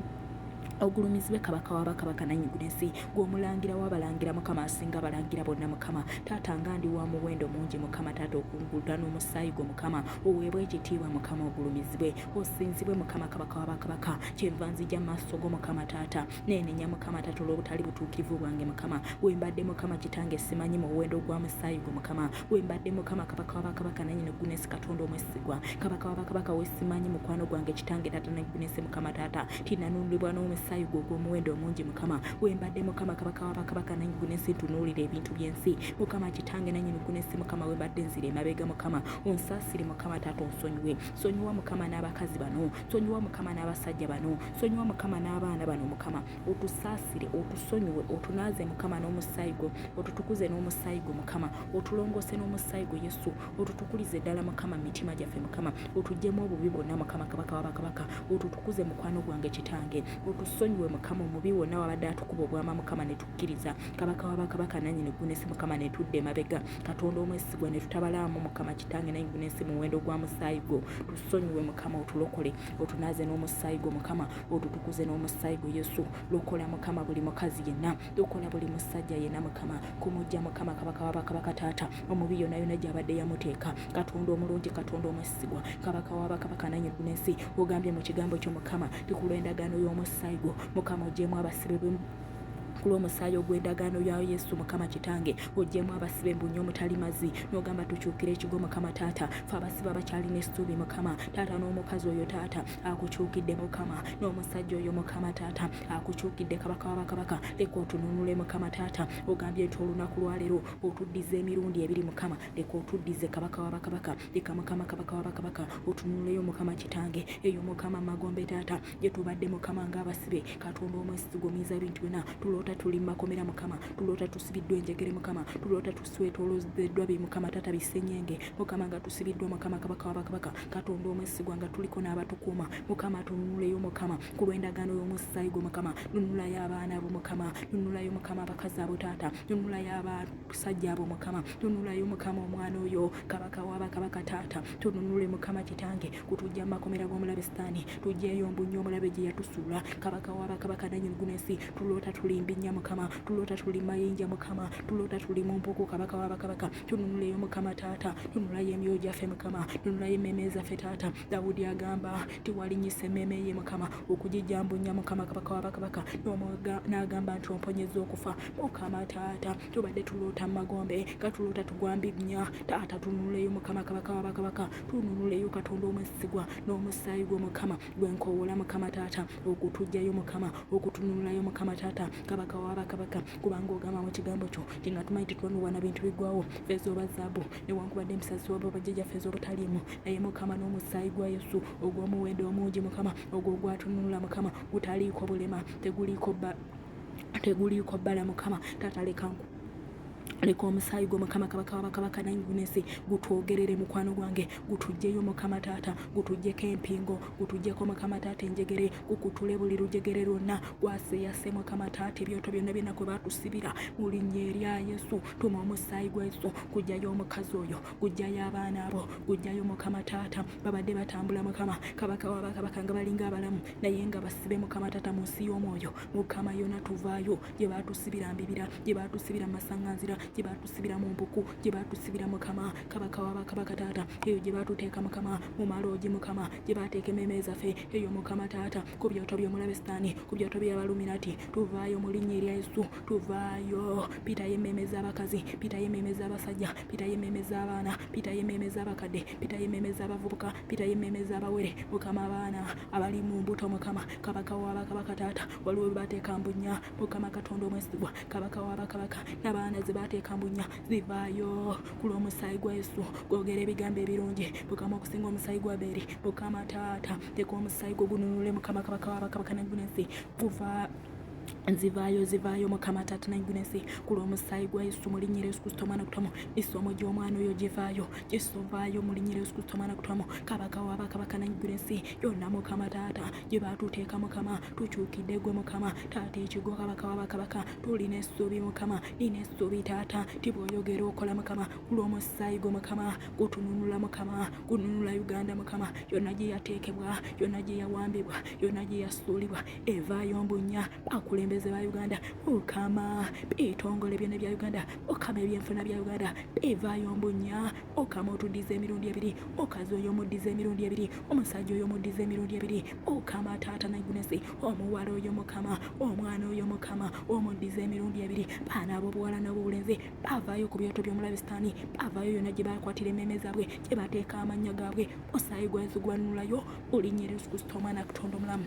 ogulumizibwe kabaka wa bakabaka nanyigula ensi gweomulangira wabalangira mukama asinga abalangira bonna mukama taata nga ndi wa muwendo mungi mukama taata okungulda n'omusaayi gwe mukama oweebwe ekitiibwa mukama ogulumizibwe osinzibwe mukama kabaka wa bakabaka kyenva nzija maaso go mukama taata neenenya mukama taata olw'obutali butuukirivu bwange mukama wembadde mukama kitange simanyi mu muwendo gwa musaayi gwe mukama wembadde mukama kabaka wa bakabaka nanyini gunesi katonda omwesigwa kabaka wa bakabaka wesimanyi mukwano gwange kitange taata negunesi mukama taata tinanunulibwa n'omusaayi gwe ogw'omuwendo omungi mukama wembadde mukama kabaka wa bakabaka nanyini gunesi ntunuulira ebintu by'ensi mukama kitange nanyini gunesi mukama wembadde nzira emabega mukama onsasire mukama taata onsonyiwe sonyiwa mukama n'abakazi bano sonyiwa mukama n'abasajja bano sonyiwa mukama n'abaana bano mukama otusasire otusonyiwe otunaaze mukama n'omusaayi gwo otutukuze n'omusaayi gwo mukama otulongose n'omusaayi gwo yesu otutukulize ddala mukama mitima gyaffe mukama otujjemu obubi bwonna mukama kabaka wabakabaka otutukuze mukwano gwange kitange otusonyiwe mukama omubi wonna wabadde atukuba obwama mukama netu tukkiriza kabaka wa bakabaka nannyini ggulu n'ensi mukama ne tudda emabega katonda omwesigwa ne tutabalaamu mukama kitange nanyi ggulu n'ensi muwendo gwa musaayi gwo tusonyiwe mukama otulokole otunaaze n'omusaayi gwo mukama otutukuze n'omusaayi gwo yesu lokola mukama buli mukazi yenna lokola buli musajja yenna mukama kumujja mukama kabaka wa bakabaka taata omubi yona yona gyabadde yamuteeka katonda omulungi katonda omwesigwa kabaka wa bakabaka nanyi ggulu n'ensi ogambye mu kigambo kyo mukama tikulwa endagaano y'omusaayi gwo mukama ogyemu abasibe ku lw'omusaayi ogw'endagaano ya yesu mukama kitange ojjemu abasibe mbu nyo mutali mazi nogamba tukyukire ekigo mukama taata fe abasibe abakyalina essuubi mukama taata n'omukazi oyo taata akukyukidde mukama n'omusajja oyo mukama taata akukyukidde kabaka wabakabaka leka otununule mukama taata ogambye nti olunaku lwaleero otuddiza emirundi ebiri mukama leka otuddize kabaka wabakabaka leka mukama kabaka wabakabaka otununuleyo mukama kitange eyo mukama magombe taata gye tubadde mukama ng'abasibe katonda omwesitigo muyinza bintu byona tuloota tuli mu makomera mukama tuloota tusibiddwa enjegere mukama tuloota tuswetolozeddwa bi mukama tata bisenyenge mukama nga tusibiddwa mukama kabaka wabakabaka katonda omwesigwa nga tuliko n'abatukuuma mukama tununuleyo mukama ku lw'endagaano y'omusaayi gwo mukama nunulayo abaana bo mukama nunulayo mukama abakazi abo taata nunulayo abasajja abo mukama nunulayo mukama omwana oyo kabaka wabakabaka taata tununule mukama kitange kutujja makomera g'omulabe sitaani tujjeeyo mbunnyo omulabe gye yatusuula kabaka w'abakabaka nanyingunensi tuloota tuli mbinnya mukama tuloota tuli mayinja mukama tuloota tuli mu mpuku kabaka w'abakabaka tununuleyo mukama taata tunulayo emyoyo gyaffe mukama tunulayo emmeeme zaffe taata dawudi agamba tiwalinyisa emmeeme ye mukama okugijja mbunnya mukama kabaka w'abakabaka n'agamba nti omponyeza okufa mukama taata tubadde tuloota mu magombe nga tuloota tugwambinnya taata tununuleyo mukama kabaka w'abakabaka tununulayo katonda omwesigwa n'omusaayi gwo mukama gwenkowoola mukama taata okutujjayo mukama okutununulayo mukama taata kabaka wabakabaka kubanga ogamba mu kigambo kyo tinga tumanyi tetwanubwa na bintu bigwawo feeza oba zaabu newankubadde emisasi waba bajjaja feeza obutaliimu naye mukama n'omusaayi gwa yesu ogw'omuwendo omungi mukama ogwo gwatununula mukama gutaliiko bulema teguliiko ba teguliiko bbala mukama taata lekanku leka omusaayi gwo mukama kabaka wabakabaka nayingunensi gutwogerere mukwano gwange gutujjeyo mukama taata gutujjeko empingo gutujjeko mukama taata enjegere gukutule buli lujegere lwonna gwaseyase mukama taata ebyoto byonna byonna kwe batusibira mu linnya erya yesu tuma omusaayi gwa yesu gujjayo omukazi oyo gujjayo abaana abo gujjayo mukama taata babadde batambula mukama kabaka wabakabaka nga balinga abalamu naye nga basibe mukama taata mu nsi y'omwoyo mukama yona tuvaayo gye baatusibira mbibira gye baatusibira mu masaŋŋanzira gye baatusibira mu mpuku gye baatusibira mukama kabaka wa bakabaka taata eyo gye baatuteeka mukama mu maloogi mukama gye baateeka emmeeme zaffe eyo mukama taata ku byoto by'omulabe sitaani ku byoto by'abaluminati tuvaayo mu linnya erya yesu tuvaayo pitayo emmeeme z'abakazi pitayo emmeeme z'abasajja pitayo emmeeme z'abaana pitayo emmeeme z'abakadde pitayo emmeeme z'abavubuka pitayo emmeeme z'abawere mukama abaana abali mu mbuto mukama kabaka wa bakabaka taata waliwo baateeka mbunya mukama katonda omwesigwa kabaka wa bakabaka nabaana ze baateeka mbunya zivaayo ku lw'omusaayi gwa yesu gwogera ebigambo ebirungi mukama okusinga omusaayi gwa beeri mukama taata teeka omusaayi gwo gununule mukama kabaka wa bakabaka nagunensi guva nzivaayo zivaayo mukama taata nagunensi ku lw'omusaayi gwa yesu mu linnya yesu kristo omwana kutwamu isomo gy'omwana oyo givaayo gisovaayo mu linnya yesu kristo omwana kutwamu kabaka wa bakabaka nagunensi yonna mukama taata gye baatuteeka mukama tukyukidde gwe mukama taata ekigo kabaka wabakabaka tulina essuubi mukama nina essuubi taata ti bwoyogera okola mukama kulwomusaayi gwe mukama gutununula mukama gununula uganda mukama yonna gye yateekebwa yonna gye yawambibwa yonna gye yasuulibwa evaayo mbunya akulembeze ba uganda okama ebitongole byona bya uganda okama ebyenfuna bya uganda evaayo mbunya okama otuddiza emirundi ebiri okazi oyo omuddiza emirundi ebiri omusajja oyo omuddiza emirundi ebiri okama taata naigunesi omuwala oyo mukama omwana oyo mukama omuddiza emirundi ebiri baana abobuwala nobubulenzi bavaayo ku byoto byomulabi sitaani bavaayo yona gye bakwatira emmeeme zaabwe gye bateeka amannya gaabwe osaayi gwazi gwanulayo olinyeri yesu kristo omwana kutonda omulamu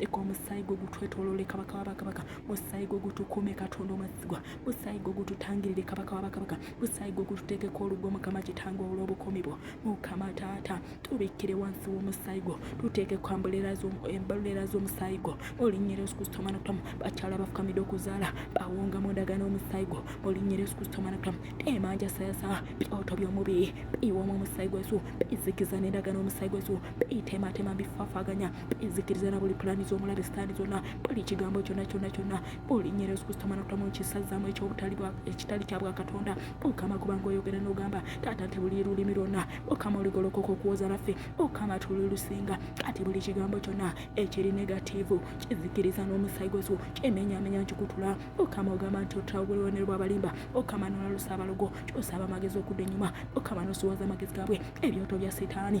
leka omusaayi gwe gutwetolole kabaka wa bakabaka musaayi gwe gutukuume katonda omwesigwa musaayi gwe gututangirire kabaka wa bakabaka musaayi gwe gututeekeko olugwo mukama kitanga olw'obukomi bwo mukama taata tubikkire wansi w'omusaayi gwo tuteekeko embalulera z'omusaayi gwo olinnye yesu kristo omwana kutamu bakyala bafukamidde okuzaala bawunga mu ndagaano omusaayi gwo olinnye yesu kristo omwana kutamu teemanja sayasa byoto by'omubi biyiwamu omusaayi gwesu bizikiza n'endagaano omusaayi gwesu biteematema bifaafaganya enzikiriza na buli pulaani z'omulabe sitaani zonna buli kigambo kyonna kyonna kyonna olinya era ozikusitamana kutamu ekisazaamu ekyobutali ekitali kya bwakatonda okama kubanga oyogera n'ogamba taata nti buli lulimi lwonna okama oligolokoka okuwoza naffe okama tuli lusinga kati buli kigambo kyonna ekiri negatiivu kizikiriza n'omusaayi gwesu kyemenyamenya nkikutula okama ogamba nti otulawo buli bubonero bw'abalimba okama n'olalusa abalogo kyosaba amagezi okudda ennyuma okama n'osiwaza amagezi gaabwe ebyoto bya sitaani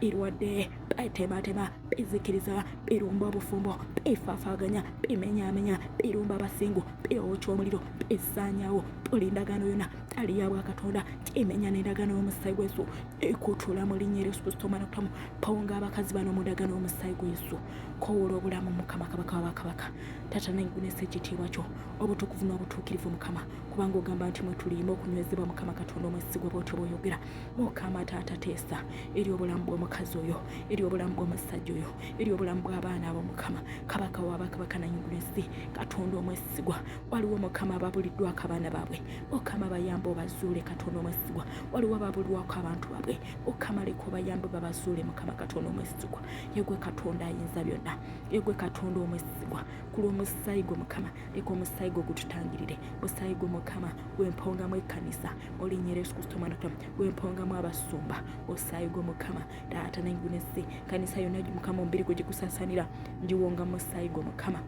birwadde bitematema bizikiriza birumba obufumbo bifaafaganya bimenyamenya birumba abasingu biwokya omuliro bisaanyawo buli ndagaano yona ali ya bwakatonda kimenya n'endagaano y'omusaayi gwesu ekutula mu linnya eryesu kristo omwana okutamu pawonga abakazi bano mu ndagaano y'omusaayi gwesu kowoola obulamu mukama kabaka wabakabaka tata nengunesa ekitiibwa kyo obutukuvu n'obutuukirivu mukama kubanga ogamba nti mwe tuliima okunywezebwa mukama katonda omwesigwa bwotyo bwoyogera mukama taata teesa eri obulamu bw'omukazi oyo eri obulamu bw'omusajja oyo eri obulamu bw'abaana abo mukama kabaka wabakabaka nanyigula ensi katonda omwesigwa waliwo mukama ababuliddwako abaana baabwe mukama bayamba obazuule katonda omwesigwa waliwo ababulwako abantu baabwe mukama leka obayambe babazuule mukama katonda omwesigwa yegwe katonda ayinza byonna yegwe katonda omwesigwa ku lw'omusaayi gwe mukama leka omusaayi gwo gututangirire musaayi gwo mukama gwempongamu ekkanisa olinyera yesu kristo omwana tama gwempongamu abasumba osaayi gwo mukama taata nengunesi kanisa yonna mukama omubiri gwe gikusasanira ngiwonga musaayi gwo mukama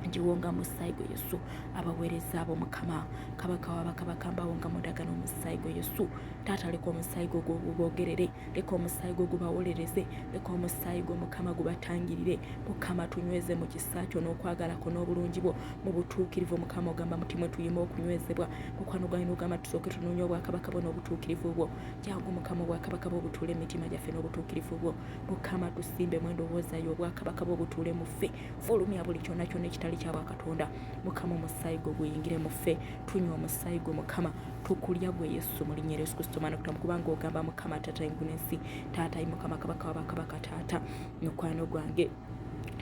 ngiwonga musaayi gwe yesu abaweereza abo mukama kabaka wabakabaka mbawonga mudagano omusaayi gwe yesu taata leka omusaayi gwo gwogerere leka omusaayi gwo gubawolereze leka omusaayi gwo mukama gubatangirire mukama tunyweze mu kisa kyo n'okwagala kwo n'obulungi bwo mu butuukirivu mukama ogamba muti mwe tuyima okunywezebwa mukwano gwange n'ogamba tusooke tunoonya obwakabaka bwo n'obutuukirivu bwo jangu mukama obwakabaka bwo butuule mu mitima gyaffe n'obutuukirivu bwo mukama tusimbe mu endowooza yo obwakabaka bwo butuule mu ffe fulumya buli kyonna kyonna ekitali kya bwakatonda mukama omusaayi gwo guyingire mu ffe tunywa omusaayi gwo mukama tukulya gwe yesu mu linnya yesu kristo maana kutamu kubanga ogamba mukama taata engulu ensi taata yi mukama kabaka wabakabaka taata mukwano gwange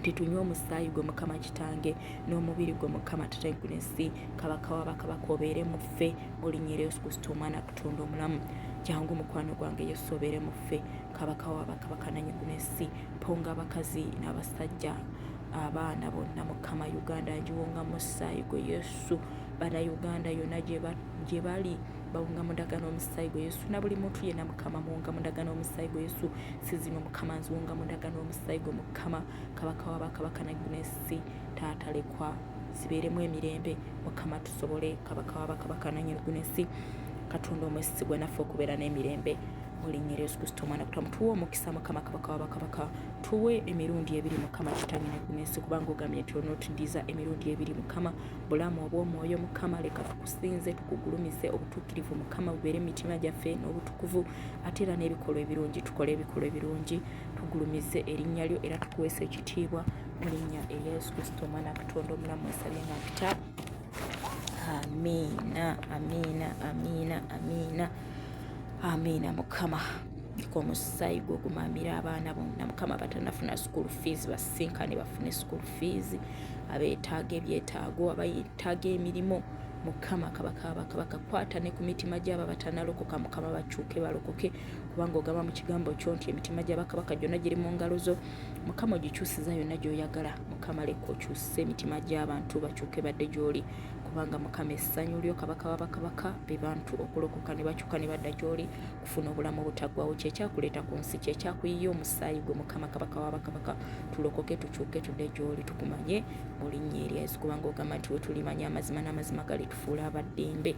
titunywa omusaayi gwe mukama kitange n'omubiri gwe mukama taata engulu ensi kabaka wabakabaka obeere muffe mu linnya yesu kristo omwana kutonda omulamu jangu mukwano gwange yesu obeere muffe kabaka wabakabaka nanyengulu ensi ponga abakazi n'abasajja abaana bonna mukama uganda ngiwonga musaayi gwe yesu yesu bana uganda yona gyebali bawunga mudaga n'omusaayi gwe yesu na buli muntu yena mukama muwunga mudaga n'omusaayi gwe yesu sizino mukama nziwunga mudaga n'omusaayi gwe mukama kabaka wa bakabaka nagunesi taatalekwa zibeeremu emirembe mukama tusobole kabaka wa bakabaka nanyegunesi katonda omwesigwa naffe okubeera n'emirembe mulinyera yesu kristo omwana kutamutuwa omukisa mukama kabaka wa bakabaka tuwe emirundi ebiri mukama kitange nekunesi kubanga ogambye nti onotudiza emirundi ebiri mukama bulamu obwomwoyo mukama leka tukusinze tukugulumize obutuukirivu mukama bubeere emitima gyaffe n'obutukuvu ate era n'ebikolwa ebirungi tukole ebikolwa ebirungi tugulumize erinnya lyo era tukuweesa ekitiibwa mu linnya erya yesu kristo omwana katonda omulamu esabye nga mpita amiina amiina amiina amiina amiina mukama ku omusaayi gwe ogumamira abaana bonna mukama batanafuna school fees basinkane bafune school fees abeetaaga ebyetaago abayetaaga emirimu mukama kabakabakakwata ne ku mitima gyabo abatanalokoka mukama bakyuke balokoke kubanga ogamba mu kigambo kyo nti emitima gyabakabaka gyonna giri mu ngalo zo mukama ogikyusiza yonna gyoyagala mukama leka okyuse emitima gy'abantu bakyuke badde gy'oli kubanga mukama essanyu lyo kabaka wabakabaka be bantu okulokoka ne bakyuka ne badda gy'oli kufuna obulamu obutaggwawo kyekyakuleeta ku nsi kyekyakuyiye omusaayi gwe mukama kabaka wabakabaka tulokoke tukyuke tudde gy'oli tukumanye olinnya erya yesu kubanga ogamba nti wetulimanya amazima n'amazima galitufuula abaddembe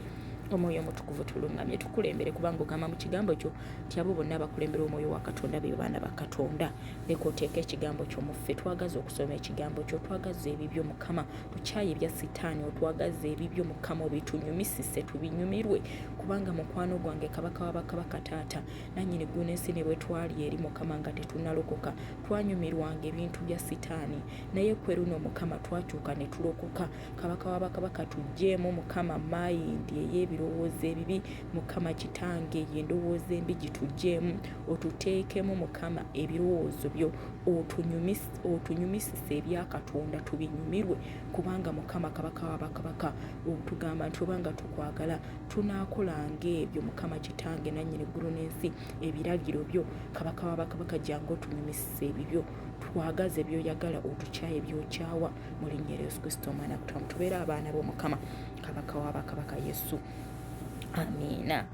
omwoyo omutukuvu tulungamye tukulembere kubanga ogamba mu kigambo kyo nti abo bonna abakulembera omwoyo wa katonda be baana ba katonda leka oteeka ekigambo kyo muffe twagaza okusoma ekigambo kyo twagaza ebibyo mukama tukyaye ebya sitaani otwagaza ebibyo mukama obitunyumisise tubinyumirwe kubanga mukwano gwange kabaka wabakabaka taata nanyini guna ensi ne bwetwali eri mukama nga tetunalokoka twanyumirwanga ebintu bya sitaani naye kweruno mukama twakyuka ne tulokoka kabaka wabakabaka tujjeemu mukama mayindi ey'ebirowoozo ebibi mukama kitange eyo endowooza embi gitugyemu otuteekemu mukama ebirowoozo byo otunyumisise ebya katonda tubinyumirwe kubanga mukama kabaka wabakabaka otugamba nti obanga tukwagala tunakolanga ebyo mukama kitange nanyini ggulu n'ensi ebiragiro byo kabaka wabakabaka jange otunyumisise ebibyo twagaze byoyagala otukyaye byokyawa mu linnya lya yesu kristo omwana kutamu tubeere abaana b'omukama kabaka wabakabaka yesu, yesu. amiina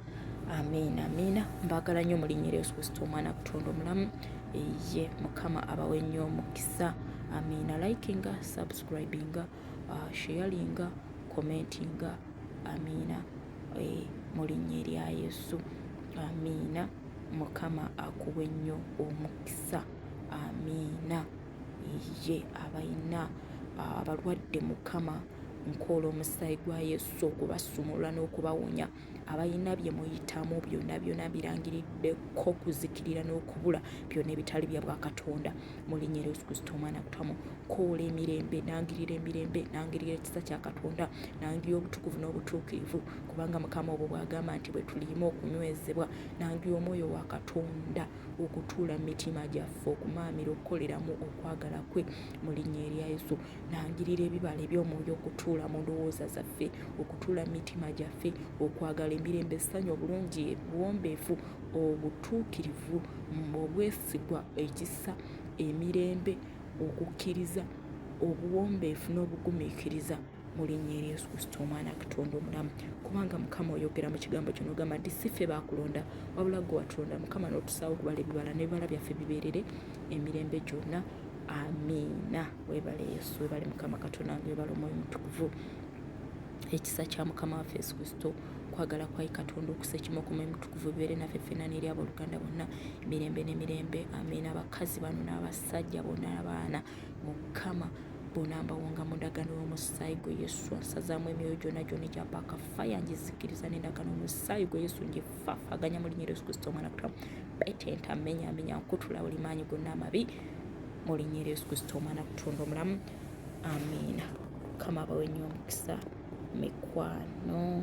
amiina amiina mbaagala nnyo mulinyera yesu kristo omwana kutonda omulamu eye mukama abawe nnyo omukisa amiina likinga subscribinga uh, sharinga commentinga amiina eh, mu linnya erya yesu amiina mukama akuwe nnyo omukisa amiina ye abalina abalwadde mukama nkola omusaayi gwa yesu okubasumulula n'okubawonya abalina bye muyitamu byonna byonna birangiriddeko kuzikirira n'okubula byonna ebitali bya bwakatonda mulinya era yesu kristo omwana kutamu koola emirembe nangirira emirembe nangirira ekisa kya katonda nangira obutukuvu n'obutuukirivu kubanga mukama obwo bwagamba nti bwe tuliima okunywezebwa nangira omwoyo wa katonda okutuula mu mitima gyaffe okumaamira okukoleramu okwagala kwe mu linnya erya yesu nangirira ebibala eby'omwoyo okutuula mu ndowooza zaffe okutuula mu mitima gyaffe okwagala emirembe essanyu obulungi ebuwombeefu obutuukirivu obwesigwa ekisa emirembe okukkiriza obuwombeefu n'obugumiikiriza mu linnya erya yesu kristo omwana katonda omulamu kubanga mukama oyogera mu kigambo kino ogamba nti si ffe baakulonda wabula gwe watulonda mukama n'otusaawo okubala ebibala n'ebibala byaffe bibeerere emirembe gyonna amiina webale yesu webale mukama katonda nga webale omwoyo mutukuvu ekisa kya mukama waffe yesu kristo okwagala kwayi katonda okusa ekimu okuma emutukuvu bibeere naffe ffena neeri abooluganda bonna emirembe n'emirembe amiina abakazi bano n'abasajja bonna abaana mukama bona mbawonga mu ndagano y'omusaayi gwe yesu ansazaamu emyoyo gyona gyona egyapaaka faya ngizikiriza n'endagano omusaayi gwe yesu ngifaafaganya mu linnya yesu kristo omwana kutula betenta menya menya nkutula buli maanyi gonna amabi mu linnya yesu kristo omwana kutonda omulamu amiina kama abawe nnyo omukisa mikwano